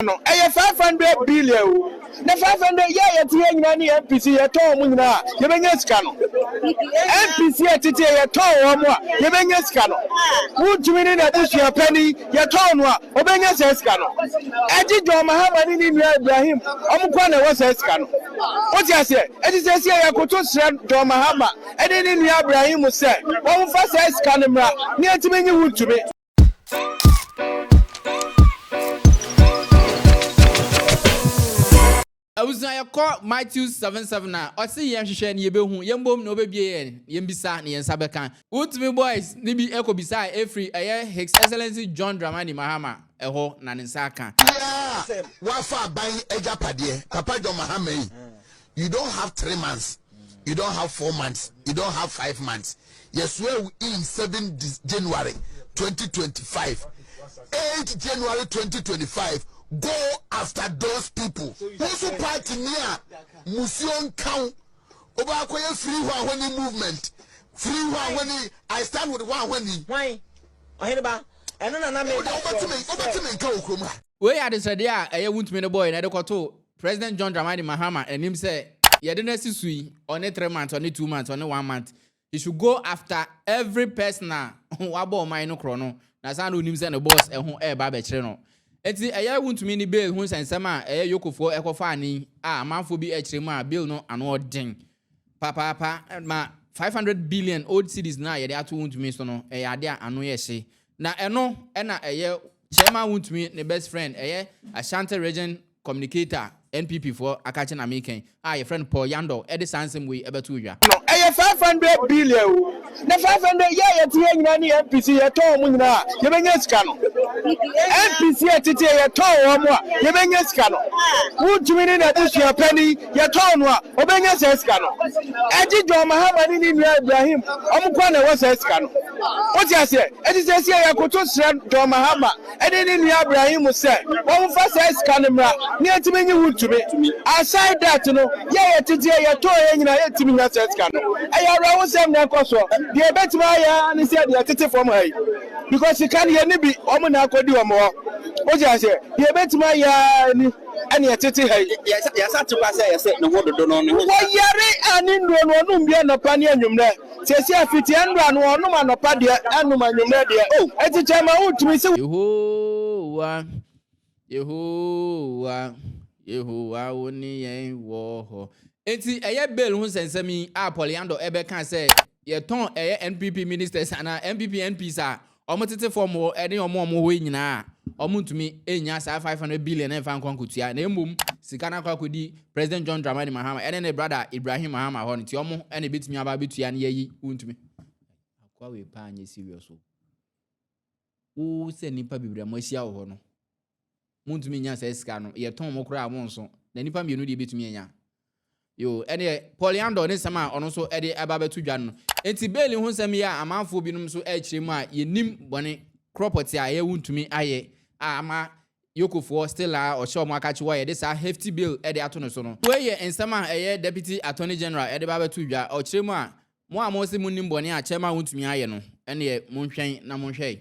nyinaa no ɛyɛ five hundred billion o na five hundred yɛ a yɛte yɛ nyinaa ne npc yɛtɔn wɔn nyinaa a yɛbɛnya sika no npc a tete yɛ yɛtɔn wɔn a yɛbɛnya sika no wuntumi ne n'abusua panyin yɛtɔn no a ɔbɛnya saa sika no ɛgye John Mahama ne ne nua Ibrahim wɔn kɔ na ɛwɔ saa sika no wote aseɛ ɛte sɛ si a yɛkoto srɛ John Mahama ɛne ne nua Ibrahim sɛ wɔn fa saa sika no mmra ne ɛtumi nye wuntumi. abusua yɛkɔ matthew 77 a ɔse yɛn hwehwɛ ne yɛbɛhu yɛn bom na ɔbɛbie yɛn yɛn bisa na yɛn nsa bɛka wotumi boys ne bi ɛkɔ bisa a ɛfiri ɛyɛ his excellency john dramani mahama ɛhɔ na ne nsa aka. Bia wafa aban agyapadeɛ papa john mahama yi you don't have three months you don't have four months you don't have five months yɛsoa wo in seven january 2025 eight january 2025 go after those people wo so party ni a musuo nka wo wobɛakɔyɛ free hɔ ahɔni movement free hɔ ahɔni i stand with hɔ ahɔni ɔhene ba ɛno na na meka kyerɛ wo sɛ wei yɛ adesrɛdeɛ a ɛyɛ wontumi no bɔɔyɛ na ɛde kɔtoo President John Dramani Mahama anim sɛ yɛde no asi so yi, ɔne three months, ɔne two months, ɔne one month, he should go after every person a wabɔ ɔman no korɔ no, na saa na onim sɛ ne boss ɛho ɛreba abɛkyere no. Enti ɛyɛ wontumi ne bail ho nsɛnsɛm a ɛyɛ Yokofoɔ ɛkɔfaa no yi a amanfoɔ bi ɛkyerɛ mu a bail no ano ɔden papaapa ma 500 billion old cedis no a yɛde ato wontumi so no ɛyɛ ade a ano yɛ hye na ɛno ɛna ɛyɛ chairman wontumi ne best friend ɛyɛ Ashanti region Communicator a NPP foɔ aka akyɛ na meka yi a yɛfrɛ no Paul Yandor de saa nsɛm wei bɛtoo dwa. No ɛyɛ five hundred billion o na five hundred yɛ a yɛte yɛ nyinaa ne NPC yɛtɔn wɔn nyinaa a yɛbɛnya sika no NPC a ɛtete yɛ yɛtɔn wɔn a yɛbɛnya sika no Wontumi ne n'abusua panin yɛtɔn no a ɔbɛnya saa sika no Ɛgye John Mahama ne ne nua Ibrahim wɔn nko ara na ɛwɔ saa sika no Wote aseɛ? Enti seesei yɛkoto srɛ John Mahama ne ne nua Ibrahim sɛ wɔmfa saa sika no mmra na yɛntumi nye ho ntumi. Aside that no, yɛ a yɛtete a yɛtɔn yɛn nyinaa yɛntumi nya saa sika no. Ɛyɛ awerɛhosɛm na ɛkɔ soɔ. Deɛ yɛbɛtumi ayɛ ara ne sɛ deɛ ɛtete fam ha yi because sika no yɛnni bi, wɔn na akɔdi wɔn hɔ. Wote aseɛ? Deɛ yɛbɛtumi ayɛ ara ni ɛne ɛtete ha yi. Yɛsa te kwa sɛ yɛse ne ho dodo no ne ho. Wɔyare a ne nnuro no wɔnom bi anɔpa ne anwummerɛ. Seesei fiti ɛnora no ɔnom anɔpa deɛ ɛnom anwummerɛ deɛ oh eti kyɛ ma wo tumi se. Yehowa, Yehowa, Yehowa wo ne yɛn wɔ hɔ. Enti ɛyɛ bail ho nsɛnsɛm yi a Paul Yandor ɛbɛka sɛ yɛtɔn ɛyɛ NPP ministers anaa NPP MPs a Wɔn tete fam hɔ ne wɔn a wɔwɔ hɔ yi nyinaa, wɔntumi nnya saa five hundred billion mfa nkɔ nkotua, na mmom sika no akɔ akɔdi President John Dramani Mahama ne ne brada Ibrahim Mahama hɔ, nti wɔn na ebetumi aba abetua ne yɛyi, wontumi. Akoa wei paa nyɛ serious o. Wo sɛ nipa bebree a moahyia wɔ hɔ no. Montumi nnya saa sika no, yɛtɔn mo koraa a monso, na nnipa mmienu deɛ bɛtumi anya? Yoo, ɛnneɛ Polyandor ne nsɛm a ɔno nso de ba bɛto dwa no. Enti Bailey ho nsɛm yi a amanfoɔ binom nso rekyerɛ mu a yɛnnim bɔne korɔ pɔtee a ɛyɛ wontumi ayɛ a ama Yokofoɔ still ara ɔhyɛ wɔn akakye wɔ yɛde saa hefty bill de ato no so no. Wei yɛ nsɛm a ɛyɛ Deputy Attorney General de ba bɛto dwa, ɔkyerɛ mu a, Mo a mose monnim bɔne a Chairman wontumi ayɛ no, ɛnneɛ monhwɛn na monhwɛ.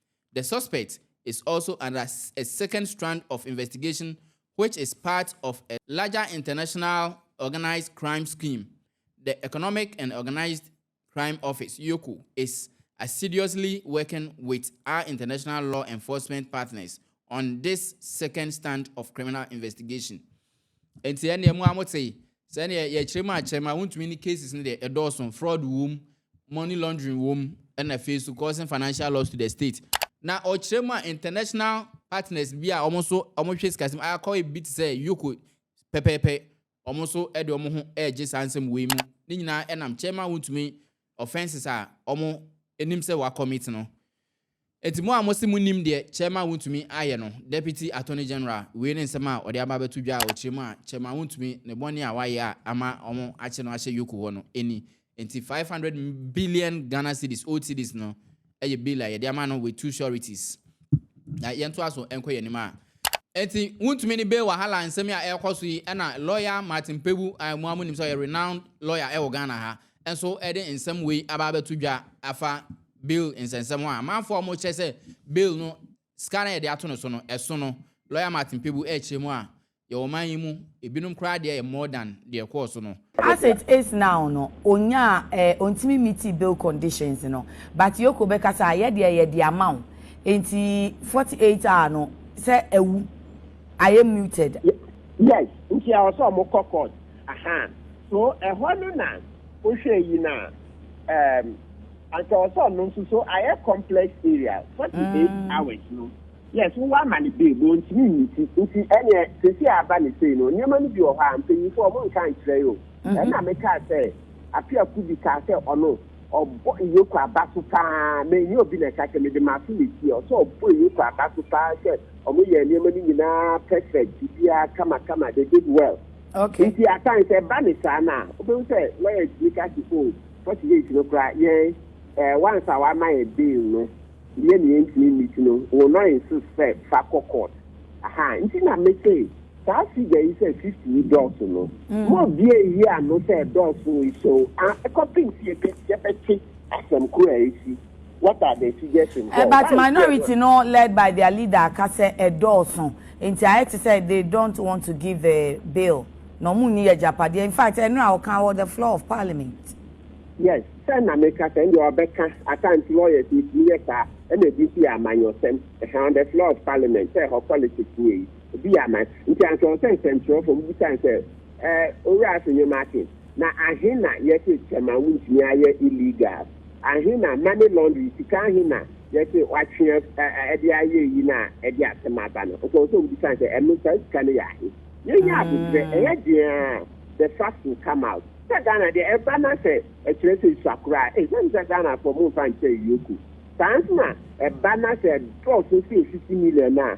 The suspect is also under a second strand of investigation which is part of a larger international organised crime scheme, the Economic and Organised Crime Office, EOCO, is assiduously working with our international law enforcement partners on this second stand of criminal investigation. Nti ɛnna mu a mo te sɛdeɛ yɛkyerɛ mu akyerɛ mu a wontumi ne cases no deɛ ɛdɔɔso fraud wom money laundering wɔ mu ɛna afei nso causing financial loss to the state. Na ɔkyerɛ mu a international partners bi a wɔn nso wɔhwɛ sikasɛm akɔ ebi te sɛ Yoko pɛpɛɛpɛ wɔn nso de wɔn ho regye saa nsɛm wei mu. Ne nyinaa ɛnam kyɛma wontumi offences a wɔn anim sɛ wɔakɔmit no. Enti mo a mose monnim deɛ Chairman wontumi ayɛ no, Deputy Attorney General, wei ne nsɛm a ɔde aba abɛto dwa a ɔkyerɛ mu a Chairman wontumi ne bɔne a wayɛ a ama wɔakye no ahyɛ yoko hɔ no nni. Enti five hundred billion Ghana cedis, old cedis, no yɛ bail a yɛde ama no with two sureties. Na yɛntoa so nkɔ yɛn anim a. Enti wontumi ne bail wahala nsɛm yi a ɛrekɔ so yi na lawyer Martin Pebu a mo ara monim sɛ ɔyɛ renowned lawyer wɔ Ghana ha nso de nsɛm wei aba abɛto dwa afa Bill nsɛnsɛm ho a amanfoɔ a wɔkyerɛ sɛ Bill no sika no a yɛde ato no so no ɛso no Lawyer Martin Pebu rekyerɛ mu a yɛwɔ ɔman yi mu ebinom koraa deɛ yɛ more than deɛ ɛkɔɔ so no. As it is now no ɔnyaa eh ɔntumi meetii Bill conditions no but Yoko bɛka sɛ ah yɛdeɛ yɛde ama wo enti forty eight hour no sɛ awu ayɛ muted. Yes, nti ɛwɔ sɛ wɔkɔ court. Aha, so ɛhɔ no na wohwɛ yi no a, um, anka ɔsɛ ɔno nso, so ayɛ complex area, 48 hours no, yes, wowɔ ama no babe, ɔntumi nyi ti, nti ɛneɛ, sɛsi a aba no sei no, nneɛma no bi wɔ hɔ a, mpanyinfoɔ ɔmo nka nkyerɛ yɛ o, ɛna mekaa sɛ, afe a Kubi kaa sɛ ɔno, ɔbɔ Iyoko aba so paa, manyɛ obi na ɛka sɛ, mede m'aso na ɛsi hɔ, sɛ ɔbɔ Iyoko aba so paa sɛ ɔmo yɛɛ nneɛma no nyinaa perfect, biribiara kama kama, they did well. Okay. Nti at times sɛ ɛba ne saa no a, wobɛhu sɛ lɔya tumi ka se o, forty days no koraa yɛn eh, once a wama yɛ bail no, yɛ ne yɛntumi meet no, we will not insist sɛ fa kɔ court. Aha, nti na me se saa figure yi sɛ fifty yi dɔɔso no, ma obiara nyi ano sɛ ɛdɔɔso nso, ah, ɛkɔpem se yɛbɛ, yɛbɛte asɛm koro a ɛsi. What are the suggestions there? But minority no led by their leader aka sɛ ɛdɔɔso nti ayɛ te sɛ they don't want to give the bill na wɔn nni agyapadeɛ in fact ɛno a ɔka wɔ the floor of parliament. Yes, sɛ na meka sɛ ndeɛ ɔbɛka at times lawyers yɛtumi yɛ saa ɛna ebi nso yɛ amanyɔsɛm ɛhɛn on the floor of parliament sɛ ɛhɔ politics nie yi ebi yɛ aman nti anka ɔsɛ nsɛnkyerɛwfoɔ mbisa nsɛ ɛɛ owura aso nneɛma akyɛ Na ahe na yɛse cɛma wontumi ayɛ illegal? Ahe na money laundry, sika ahe na yɛse watwe af ɛ de ayɛ eyi na ɛde asem aba no? Ɔsɛ sɛ obisa no sɛ, ɛno saa sika no yɛ ahe? Yɛnyɛ aboterɛ, ɛyɛ den a the facts will come out. Sɛ Ghana deɛ, ɛba na sɛ ɛkyerɛ sɛ esua koraa a, ɛsiane sɛ Ghanafoɔ momfa nkyɛ yoko. Saa nso na ɛba na sɛ ɛdɔɔso sɛ 50 million a,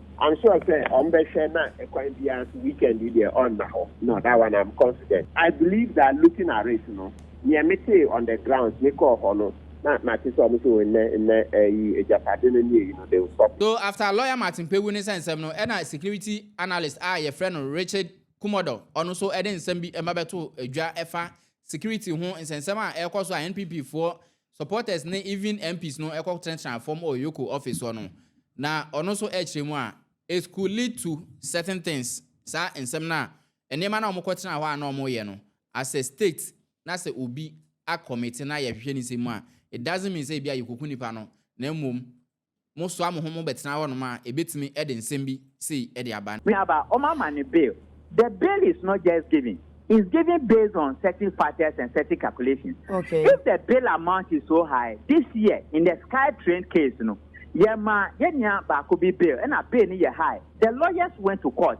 I'm sure sɛ ɔmo bɛhwɛ na ɛkwan biara so weekend yi deɛ ɔnna hɔ no that one I'm confident. I believe that looking at it no neɛ metee on the grounds me kɔɔ hɔ no na mate sɛ ɔmo se o nnɛ nnɛ ɛyi agyapade no ne ɛyi no they will stop it. So after lawyer Martin Pɛ wu ne sɛ nsɛm no ɛna security analyst a yɛfrɛ no Richard Kumɔdɔ ɔno nso ɛde nsɛm bi ɛma bɛtoo dwa ɛfa security ho nsɛnsɛm a ɛrekɔ so a NPP foɔ Supporters ne even MPs no kɔ tenatena fam wɔ Yoko office hɔ no, na ɔno nso rekyerɛ mu a, it could lead to certain things, saa nsɛm no a, nneɛma no a wɔkɔ tena hɔ a na wɔyɛ no, as a state na sɛ obi a commit na yɛhwehwɛ ne nsɛm mu a, it doesn't mean sɛ ebia yɛkoku nipa no, na mmom Mosoa mo ho mo bɛtena hɔnom a, ebetumi de nsɛm bi sei de aba. Me aba, wɔn ama no bail. The bail is not just given, it's given based on certain factors and certain calculations. Okay. If the bail amount is so high, this year in the Sky Train case no, yɛmaa yɛn nua baako bi bail, ɛna bail no yɛ high. The lawyers went to court,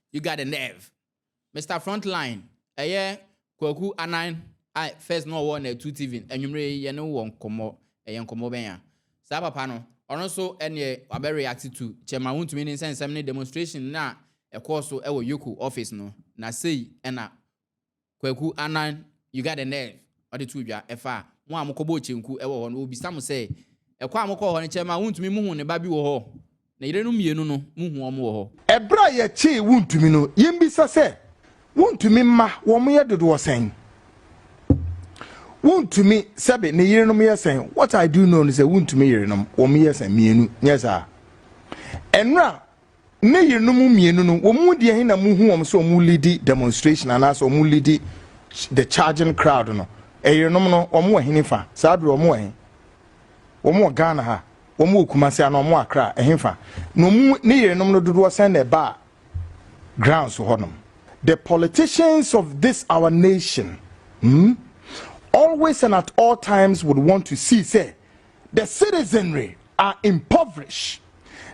You got the nerve. Mister Front Line, ɛyɛ Kwaku Anan a first na ɔwɔ Natu TV no, anwumerɛ yi yɛne wo wɔ nkɔmmɔ, ɛyɛ nkɔmmɔ bɛn a? Saa papa no, ɔno nso ɛneɛ wabɛ react to Kyɛma Wontumi Nni Nsɛnsɛm ne demonstration no a ɛkɔɔ so wɔ Yoko office no, na sei na Kwaku Annan, you got the nerve, ɔde too dwa, ɛfa mo a mokɔbɔɔ kyenku wɔ hɔ no, wɔbisa mo sɛ, ɛkɔ a mokɔɔ hɔ no kyɛɛ mo a wontumi muhuu ne ba bi wɔ hɔ? Ne yerenom mmienu no, muhuu wɔn wɔ hɔ. Ɛberɛ a yɛkyee wontumi no, yɛmmisa sɛ, wontumi mma wɔn yɛ dodoɔ sɛn? Wontumi sɛbe ne yerenom yɛ sɛn? What I do know ne sɛ wontumi yerenom, wɔn yɛ sɛn? Mmienu, nyɛ saa? Ɛnora, ne yerenom mmienu no, wɔn mu deɛ he na muhu wɔn sɛ wɔn lidi demonstration anaasɛ wɔn lidi the charging crowd no? Ɛyerenom no, wɔn wɔ hene fa? Saa bere wɔn wɔ he? Wɔn wɔ Ghana ha, wɔn wɔ Kumasi anaa wɔn wɔ Accra, ɛhe fa? Na wɔn ne yerenom no dodoɔ sɛn na ɛbaa grounds hɔnom? The politicians of this our nation hmm, always and at all times would want to see sɛ The citizenry are impoverished.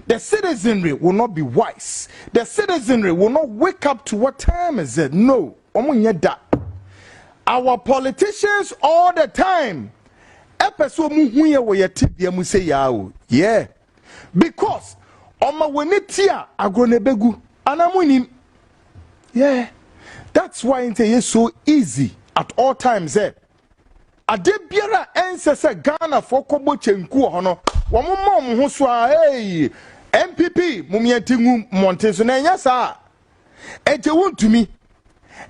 The citizenry will not be wise. The citizenry will not wake up to what time is it. No, wɔn nyɛ da. Our politicians all the time. Ɛpɛ sɛ wɔn hu yɛ wɔ yɛ tibia mu sɛ yaa o. Yeah, because ɔma wɔn ani ti a agorɔ na ebegu anaa mo nim. Yeah, that's why n sɛ yɛ so easy at all times sɛ eh, Adeɛ biara a ɛnsɛ sɛ Ghanafoɔ kɔ bɔ kyenku wɔ hɔ no, wɔn mma wɔn ho so ara. Eii! NPP mom yɛn ti ngu mmɔnten so na ɛnyɛ saa a, ɛgye wo ntumi.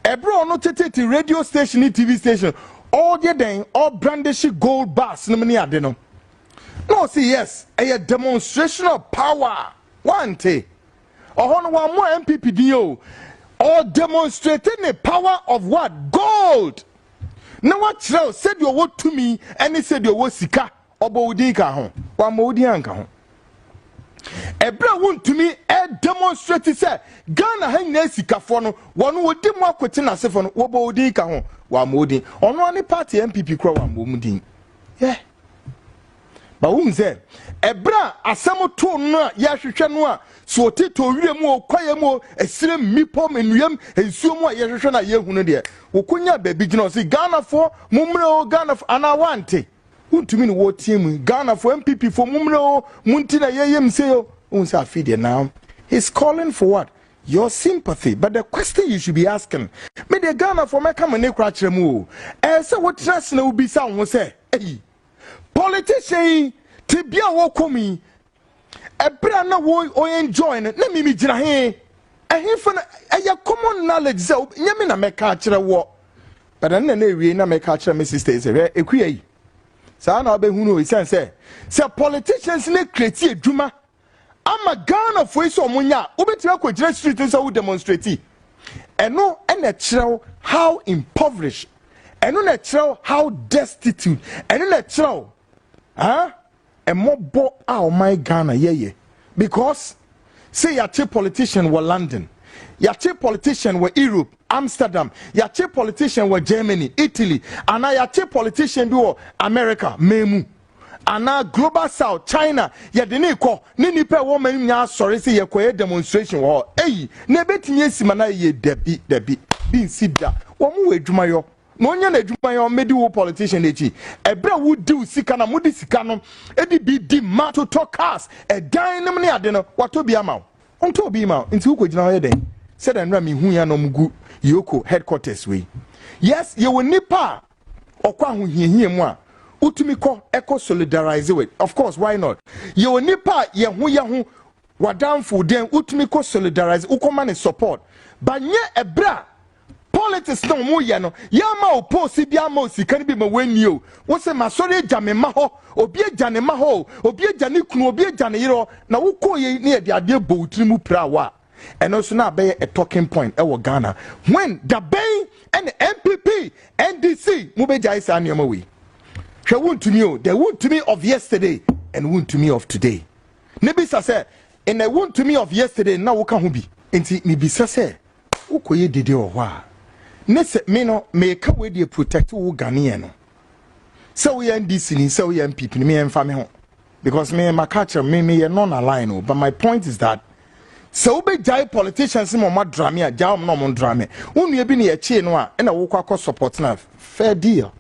Ɛberɛ a ɔno tetete radio station ne TV station ɔyɛ dɛn ɔbrandishi gold bars nom ne ade no, na ɔse yes ɛyɛ demonstration of power. Wante? Ɔhɔ no wammɔ NPP din o, ɔdemonstrate ne power of what? Gold! na wakyerɛ wo sɛdeɛ ɔwɔ tumi ne sɛdeɛ ɔwɔ sika ɔbɔ wo din ka ho wammɔ wo din anka ho ɛberɛ a wontumi demonstrate sɛ ghana ha nyinaa sikafoɔ no wɔn wɔdi mu akote n'asefoɔ no wɔbɔ wo din ka ho wammɔ wo din ɔno ane party npp kora wammɔ mu din yeah. ba wohu sɛ ɛberɛ a asɛm too no a yɛhwehwɛ no a so ɔtetɔ owira mu o kwaeɛ mu o ɛsirɛ mmepɔ mu nnuam nsuo mu a yɛhwehwɛ no a yɛhu no deɛ wɔkɔnya baabi gyina ɔse ghanafoɔ mommrɛ o ghanafoɔ anaa wante wontumi ne wɔteɛ mu ghanafoɔ mpp foɔ mommrɛ o mo nti na yɛyɛm sei o wohu sɛ afei deɛ now he's calling for what your sympathy but the question you should be asking me deɛ ghanafoɔ mɛka mo ne kora kyerɛ mu o ɛɛ sɛ wotena ase na wobisa wo ho sɛ Eyi, politician yi te bia a wɔkɔ mu yi, ɛberɛ a na wɔenjoy no, na mimi gyina he? Ɛhefa na ɛyɛ common knowledge sɛ nyɛ me na mɛka akyerɛ woɔ. Bɛda no na na ɛwie na mɛka akyerɛ me sister yi sɛ hwɛ ɛkuya yi. Saa na wobɛhunu ɛsiane sɛ sɛ politicians no kreti adwuma ama Ghanafoɔ yi sɛ wɔn nya a wobɛtumi akɔgyina street no sɛ wo demonstrate ɛno ɛna ɛkyerɛ wo how impoverished ɛno na ɛkyerɛ wo how destitute ɛno na ɛkyerɛ wo ah ɛmɔbɔ a ɔman Ghana yɛyɛ because sɛ yɛakye politician wɔ London yɛakye politician wɔ Europe Amsterdam yɛakye politician wɔ Germany Italy anaa yɛakye politician bi wɔ America mɛmu. anaa global south china yɛde ne kɔ ne nipa ɛwɔ ma nya asɔre sɛ yɛkɔyɛ demonstration wɔ hɔ eyi na ebetumi esi ma na yɛ dabi dabi bi nsi da wɔn wɔ adwumayɔ na onye na adwumayɔ mmedi wo politician akyi ɛbrɛ wo diw sika na mo de sika no edi bi di ma totɔ cars ɛdan nom ne ade no watɔ bi ama wo ntɔ bi ma nti wokɔ gyina hɔ yɛ dɛn sɛdeɛ nnora mehu ya nom gu yoko headquarters wei yes yɛwɔ nipa a Ɔkɔ ahohiahia mu a, wotumi kɔ kɔ solidarize with. Of course, why not? Yɛwɔ nipa a yɛ ho yɛ ho, w'adamfo dɛn, wotumi kɔ solidarize, wokɔ ma ne support. Ba nyɛ ɛberɛ a politics na wɔn yɛ no, yɛama wo post bi ama wo sika no bi ma wɔanni o, wo se masɔre agya me mma hɔ, obi agya ne mma hɔ o, obi agya ne kunu, obi agya ne yere hɔ, na wokɔ yei na yɛde adeɛ bɔ wo tiri mu piraa wo a. ɛno nso na abɛyɛ a talking point ɛwɔ ghana when dabɛn ɛna npp ndc mo bɛ gyae saa nneɛma wei hwɛ wuntumi o the wuntumi of yesterday and wuntumi of today ne bisa sɛ ɛna wuntumi of yesterday na woka ho bi nti ne bisa sɛ wokɔyɛ dede wɔ hɔ a ne sɛ me no meka wei deɛ protect wo ghanaian no sɛ woyɛ ndc ni sɛ woyɛ npp ni meyɛmfa me ho Because me ma ka kyerɛ me me yɛ non align o but my point is that sɛ wobɛgyae politicians ma ɔma drame a gyae ɔm na ɔmo drame wo nua bi ne yɛkyee no a ɛna wokɔ akɔ support no a fair deal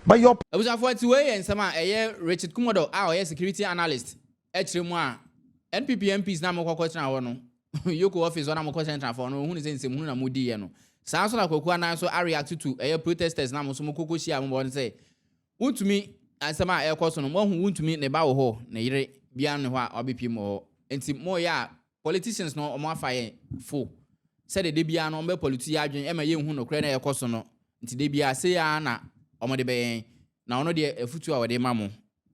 but your Abusuafo ati wei yɛ nsɛm a ɛyɛ Richard Kumodɔ a ɔyɛ security analyst ɛkyerɛ mu a NPP MPs na mokɔ kɔtena hɔ no Yoko office hɔ na mokɔ sɛntra fɔ no ohun sɛ nsɛmhunu na modi yɛ no saa nso na Kwaku Anan nso areact to ɛyɛ protesters na mo nso mokɔ kɔhyia mo bɔ no sɛ Wontumi, nsɛm a ɛrekɔ so no moahu wontumi ne ba wɔ hɔ ne yere biara nni hɔ a wabɛpiem wɔ hɔ nti moyɛ a politicians no wɔn afa yɛn fo sɛdeɛ da biara no wɔn bɛ pollute yɛn adwene ɛma yɛnhu nokorɛ no a ɛrekɔ so no nti da biara sei ara na wɔn de bɛyɛ yɛn na ɔno deɛ afutuo a ɔde ma mo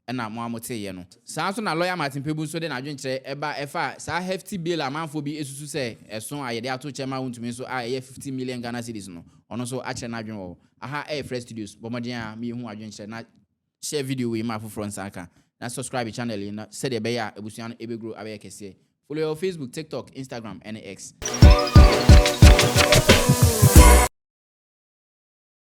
ɛna mo ara mo tee yɛ no. Saa nso na lawyer Martin Pebu nso de n'adwenkyerɛ ɛba ɛfa saa hefty bill a amanfoɔ bi ɛsusu sɛ ɛso a yɛde ato kyɛ ma wontumi nso a ɛyɛ fifty million Ghana cedis no ɔno nso akyerɛ n'adwene wɔ hɔ. Aha ɛyɛ Fresh Studios, bɔ mmɔden ara ma yɛhu w'adwenkyerɛ na share video wei ma afoforɔ nsa aka. Na subscribe channel yi no sɛdeɛ ɛbɛyɛ a abusua no ɛbɛgrow abɛyɛ kɛseɛ. Follow yɛn wɔ Facebook, TikTok, Instagram ɛne X.